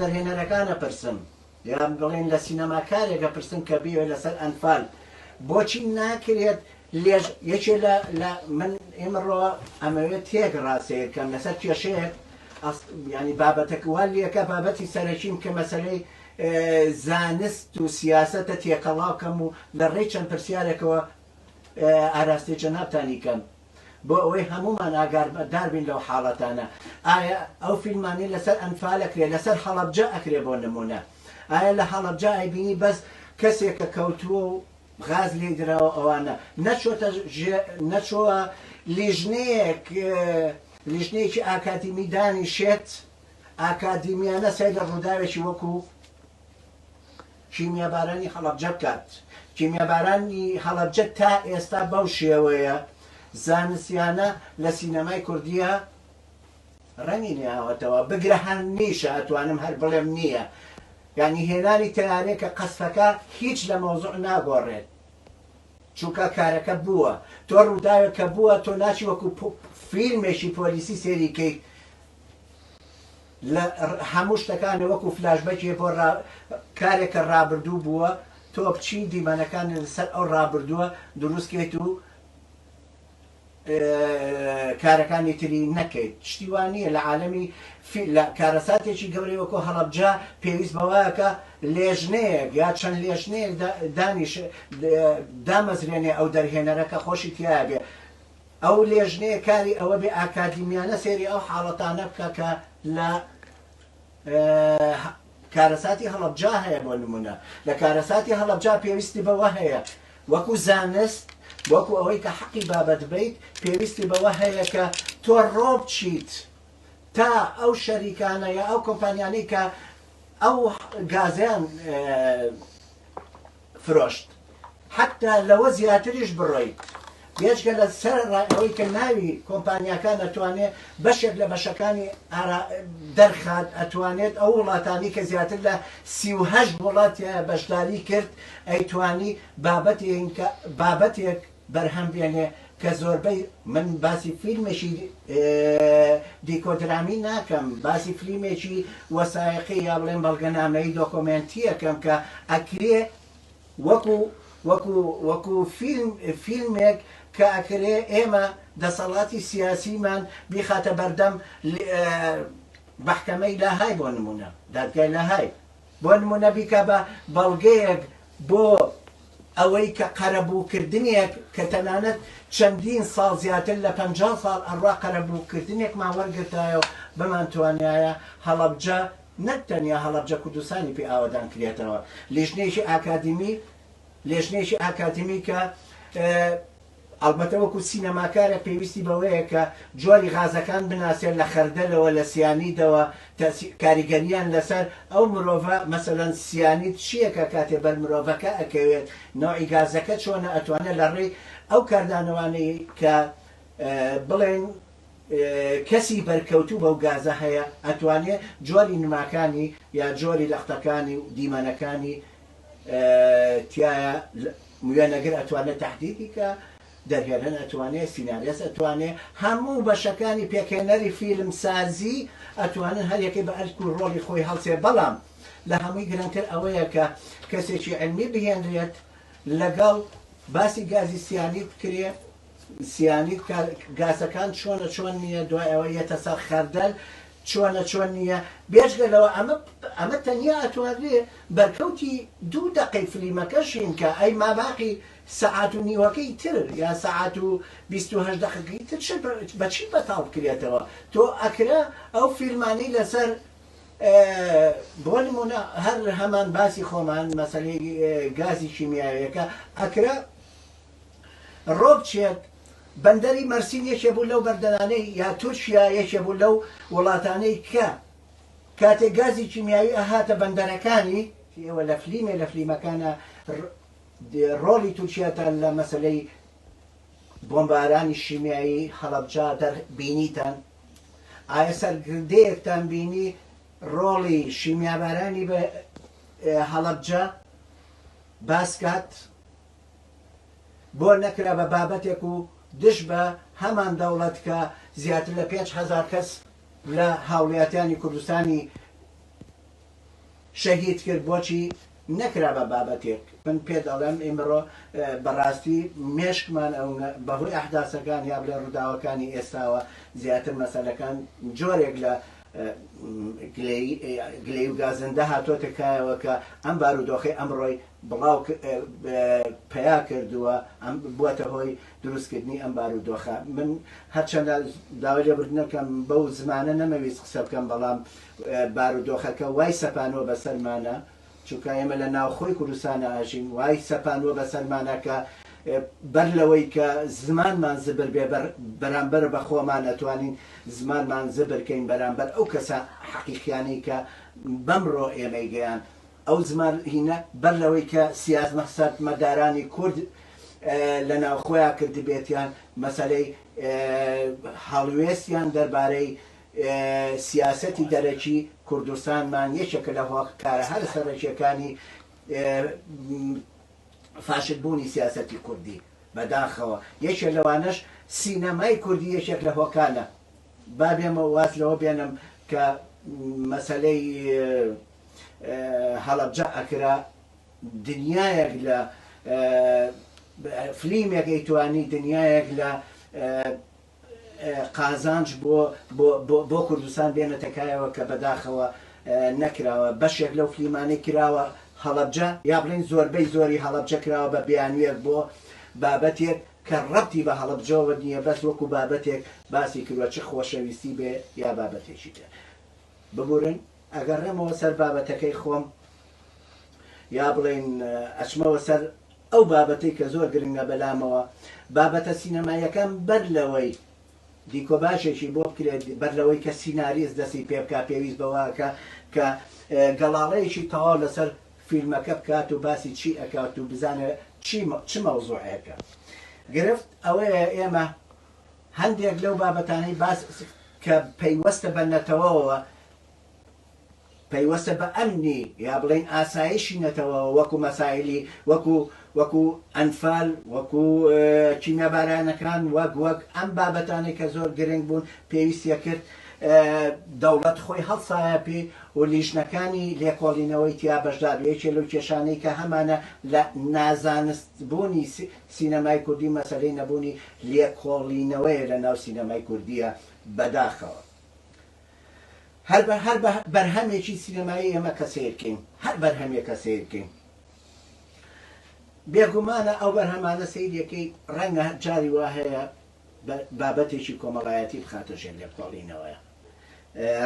دەرهێنەرەکانە پرسم یان بڵێن لە سینەماکارێکە پرسم کە بیوێ لەسەر ئەنفال بۆچی ناکرێت لێژ یەکێ لە من ئێمەڕۆ ئەمەوێت تێک ڕاستەیەکەم لەسەر کێشەیەک ینی بابەتەکووە لەکە بابەتی سەرەکیم کە مەسلەی زانست و سیاسەتە تێکەڵاو کەم و لە ڕێی چەند پرسیارێکەوە ئاراستەی جەنابتانی کەم بۆ ئەوەی هەموومان ئاگادار بین لەو حاڵەتانە ئایا ئەو فیلمانەی لەسەر ئەنفال ئەکرێ لەسەر هەڵەبجە ئەکرێ بۆ نموونە ئایا لە هەڵەبجە ئەیبینی بەس کەسێکە کەوتووە و غاز لێی دراوە ئەوانە نەچۆتە نەچۆوە لیژنەیەک لیژنەیەکی ئاکادیمی دانیشێت ئاکادیمیانە سەیر لە ڕووداوێکی وەکو کیمیابارانی هەڵەبجە بکات. کیمیابارانی هەڵەبجە تا ئێستا بەو شێوەیە زانستیانە لە سینەمای کوردیە ڕەنگی نەیاوەتەوە، بگرە هەر نیشە ئەتوانم هەر بڵێم نییە. یانی هێنانی تەیارەیەکە قەسفەکە هیچ لە مەوزوع ناگۆڕێت. چونکە کارەکە بووە. تۆ ڕووداوێک کە بووە تۆ ناچی وەکو فیلمێکی پۆلیسی سەیری کەیت. لە هەموو شتەکان وەکو فلاش بەکێ بۆ ڕا کارێک کە ڕابردوو بووە تۆ بچی دیمەنەکان لەسەر ئەو ڕابردووە دروست کەیت و کارەکانی تری نەکەیت شتی وان نییە لە عالەمی لە کارەساتێکی گەورەی وەکۆ هەڵەبجە پێویست بەوەکە لێژنەیەک یا چەند لێژنەیەک دانیش دامەزرێنێ ئەو دەرهێنەرەکە خۆشی تیا بێ ئەو لێژنەیە کاری ئەوە بێ ئاکادیمیانە سێری ئەو حاڵەتانە بکە کە لە کارەساتی هەڵەبجا هەیە بۆ نمونە لە کارەساتی هەڵەبجا پێویستی بەوە هەیە وەکو زانست وەکو ئەوەی کە حەقی بابەت بیت پێویستی بەوە هەیە کە تۆ ڕۆب چیت تا ئەو شەریکانە یا ئەو کۆمپانیانەی کە ئەو گازیان فرۆشت حەتا لەوە زیاتریش بڕۆیت بێجگە لە سەرەڕای ئەوەی کە ناوی کۆمپانیاکان ئەتوانێت بەشێک لە بەشەکانی ئارا دەرخات ئەتوانێت ئەو وڵاتانی کە زیاتر لە سی و هەشت وڵاتیان بەشداری کرد ئەیتوانی بابەتێن کە بابەتێک بەرهەم بێنێ کە زۆربەی من باسی فیلمێکی دیکۆدرامی ناکەم باسی فلیمێکی وەسایەقی یا بڵێن بەڵگەنامەی دۆکۆمێنتیەکەم کە ئەکرێ وەکو وەکو وەکو فیلم فیلمێک کە ئەکرێ ئێمە دەسەڵاتی سیاسیمان بیخاتە بەردەم محکەمەی لاهای بۆ نمونە دادگای لاهای بۆ نمونە بیکە بە بەڵگەیەک بۆ ئەوەی کە قەرەبووکردنێک کە تەنانەت چەندین ساڵ زیاتر لە پەنجا ساڵ ئەڕا قەرەبووکردنێکمان وەرگرتایە و بمانتوانیایە هەڵەبجە نەک تەنیا هەڵەبجە کوردستانی پێ ئاوەدان کرێتەوە لیژنەیەکی ئاکادیمی لێژنەیەکی ئاکادیمی کە ئەڵبەتە وەکو سینەماکارێک پێویستی بەوەیە کە جۆری غازەکان بناسێت لە خەردەلەوە لە سیانیدەوە تەئسیر کاریگەریان لەسەر ئەو مرۆڤە مەسەلەن سیانید چیەکە کاتێ بەر مرۆڤەکە ئەکەوێت نەوعی گازەکە چۆنە ئەتوانێت لە ڕێی ئەو کاردانەوانەی کە بڵێن کەسی بەرکەوتوو بەو گازە هەیە ئەتوانێت جۆری نماکانی یا جۆری لەقتەکانی و دیمەنەکانی تیایە وێنەگر ئەتوانێ تەحدیدی کا دەرهێنەر ئەتوانێ سیناریەس ئەتوانێ هەموو بەشەکانی پێکهێنەری فیلم سازی ئەتوانن هەریەکەی بە ئەرک و ڕۆڵی خۆی هەڵسێ بەڵام لە هەمووی گرنگتر ئەوەیە کە کەسێکی علمی بهێنرێت لەگەڵ باسی گازی سیانی بکرێ سیانی گازەکان چۆنە چۆن نییە دوای ئەوە یەتە سەر خەردەل چۆنە چۆن نییە؟ بێجگە لەوە ئەمە ئەمە تەنیا ئەتوانرێ بەرکەوتی دوو دەقەی فلیمەکەشین کە ئەی ماباقی سەعات و نیوەکەی تر یا سەعات و بیست و هەشت دەقەکەی تر چ بە چی بەتاڵ بکرێتەوە تۆ ئەکرا ئەو فیلمانەی لەسەر بۆ نمونە هەر هەمان باسی خۆمان مەسەلەی گازی کیمیاویەکە ئەکرا ڕۆبچێت، بەندەری مەرسین یەکێ بوو لەو بەردەرانەی یا تورکیا یەکێ بوو لەو وڵاتانەی کە کاتێ گازی کیمیاوی ئەهاتە بەندەرەکانی، ئێوە لە فلیمێ لە فلیمەکانا ڕۆڵی تورکیاتان لە مەسەلەی بۆمبارانی شیمیایی هەڵەبجە دەر بینیتان؟ ئایا سەرگردەیەکتان بینی ڕۆڵی شیمیابارانی بە هەڵەبجە باس کات؟ بۆ نەکرا بە بابەتێک و دژ بە هەمان دەوڵەت کە زیاتر لە پێنج هەزار کەس لە هاوڵیاتیانی کوردستانی شەهید کرد بۆچی نەکرا بە بابەتێک من پێ دەڵێم ئیمڕۆ بەڕاستی مێشکمان ئەو بەهۆی ئەحداسەکان یا بڵێ ڕووداوەکانی ئێستاوە زیاتر مەسەلەکان جۆرێک لە گلەی و گازندە هاتۆتە کایەوە کە ئەم بارودۆخی ئەمڕۆی بڵاوپیاکردووە بووەتە هۆی دروستکردنی ئەم بارودۆخە من هەرچەندە داوای لێبوردنەکەم بەو زمانە نەمەویست قسە بکەم بەڵام بارودۆخەکە وای سەپانووە بەسەرمانە چونکە ئێمە لە ناوخۆی کوردستانە ئاژین وای سەپانووە بەسەرمانە کە بەر لەوەی کە زمانمان زبر بێ بەرامبەر بە خۆمان ئەتوانین زمانمان زبرکەین بەرامبەر ئەو کەسە حەقیقیانەی کە بەمڕۆ ئێمەی گەیاند ئەو زمانهینە بەر لەوەی کە سیازمە سەرمەدارانی کورد لە ناو خۆیان کردبێتیان، مەسەلەی هەڵوێستیان دەربارەی سیاسەتی دەرەکی کوردستانمان یەکێکە لە هۆکارە هەرە سەرەکیەکانی فاشل بوونی سیاسەتی کوردی، بە داخەوە یەکێ لەوانەش سینەمای کوردی یەکێک لە هۆکانە. با بێمە واز لەوە بێنم کە مەسەلەی. هەڵەبجە ئەکرا دنیایەک لە فلیمێک ئەیتوانی دنیایەک لە قازانج بۆ کوردستان بێنەتەکایەوە کە بەداخەوە نەکراوە بەشێک لەو فلیمانەی کراوە هەڵەبجە یا بڵین زۆربەی زۆری هەڵەبجە کراوە بە بیانویەک بۆ بابەتێک کە ڕەتی بە هەڵەبجەوە نییە بەس وەکو بابەتێک باسی کردوە چ خۆشەویستی بێ یا بابەتێکی تر ببورن ئەگەڕێمەوە سەر بابەتەکەی خۆم، یا بڵێین ئەچمەوە سەر ئەو بابەتەی کە زۆر گرنگە بەلامەوە، بابەتە سینەماییەکان بەر لەوەی دیکۆباژێکی بۆ بکرێت، بەر لەوەی کە سیناریست دەستی پێ بکات، پێویست بەوەکە کە گەڵاڵەیەکی تەواو لەسەر فیلمەکە بکات و باسی چی ئەکات و بزانێت چی چ مەوزوعێکە. گرفت ئەوەیە ئێمە. هەندێک لەو بابەتانەی باس کە پەیوەستە بە نەتەوەوە، پەیوەستە بە ئەمنی یا بڵێین ئاسایشی نەتەوەوە وەکو مەسایلی وەکو وەکو ئەنفال وەکو کیمیابارانەکان وەک وەک ئەم بابەتانەی کە زۆر گرنگ بوون پێویستە کرد دەوڵەت خۆی هەڵسایە پێ و لیژنەکانی لێکۆڵینەوەی تیا بەشدار بێ یەکێ لەو کێشانەی کە هەمانە لە نازانست بوونی سینەمای کوردی مەسەلەی نەبوونی لێکۆڵینەوەیە لە ناو سینەمای کوردییە بەداخەوە. هەر بە هەر بە بەرهەمێکی سینەمایی ئێمە کە سەیر کەین، هەر بەرهەمێکە سەیر کەین، بێ گومانە ئەو بەرهەمانە سەیری ئەکەی ڕەنگە جاری وا هەیە بابەتێکی کۆمەڵایەتی بخاتە ژێر لێکۆڵینەوەیە.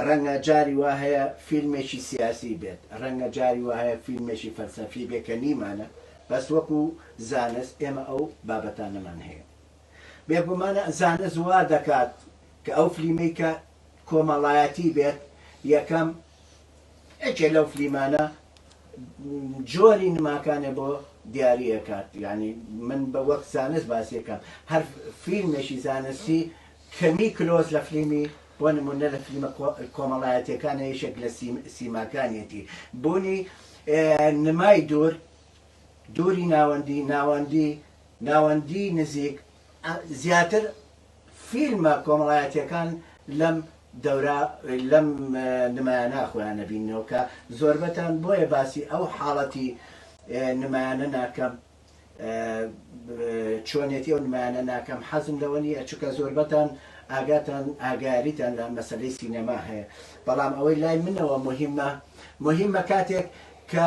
ڕەنگە جاری وا هەیە فیلمێکی سیاسی بێت، ڕەنگە جاری وا هەیە فیلمێکی فەلسەفی بێت کە نیمانە، بەس وەکو زانست ئێمە ئەو بابەتانەمان هەیە. بێگومان زانست وا دەکات کە ئەو فلیمەی کە کۆمەڵایەتی بێت، یەکەم یەکێ لەو فلیمانە جۆری نماکانێ بۆ دیاری ئەکات، یانی من بە وەک زانست باسی ئەکەم، هەر فیلمێکی زانستی کەمی کلۆز لە فلیمی بۆ نموونە لە فلیمە کۆمەڵایەتیەکانە یەکێک لە سیماکانیەتی بوونی نمای دوور دووری ناوەندی ناوەندی ناوەندی نزیک زیاتر فیلمە کۆمەڵایەتیەکان لەم دەورا لەم نمایانە خۆیان نەبینەوە کە زۆربەتان بۆیە باسی ئەو حاڵەتی نمایانە ناکەم چۆنێتی ئەو نمایانە ناکەم حەزم لەوە نییە چونکە زۆربەتان ئاگاتان ئاگاریتان لە مەسەلەی سینەما هەیە بەڵام ئەوەی لای منەوە مهمە مهمە کاتێک کە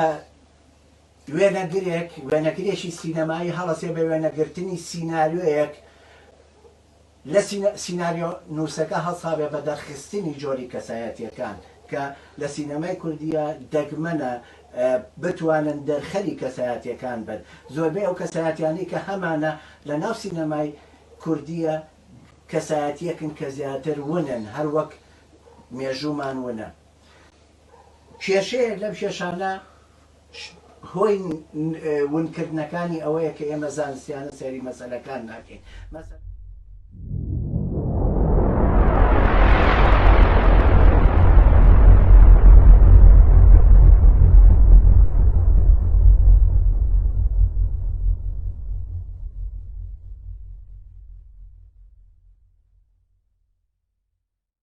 وێنەگرێک وێنەگرێکی سینەمایی هەڵەسێ بە وێنەگرتنی سینناریۆیەک لە سیناریۆ نووسەکە هەڵسابێ بە دەرخستنی جۆری کەسایەتییەکان کە لە سینەمای کوردییە دەگمەنە بتوانن دەرخەری کەسایەتییەکان بن. زۆربەی ئەو کەسایەتییانەی کە هەمانە لە ناو سینەمای کوردییە کەسایەتییەکن کە زیاتر ونن هەر وەک مێژوومان ونە. کێشەیەک لەم کێشانە هۆی ونکردنەکانی ئەوەیە کە ئێمە زانستیانە سەیری مەسەلەکان ناکەین.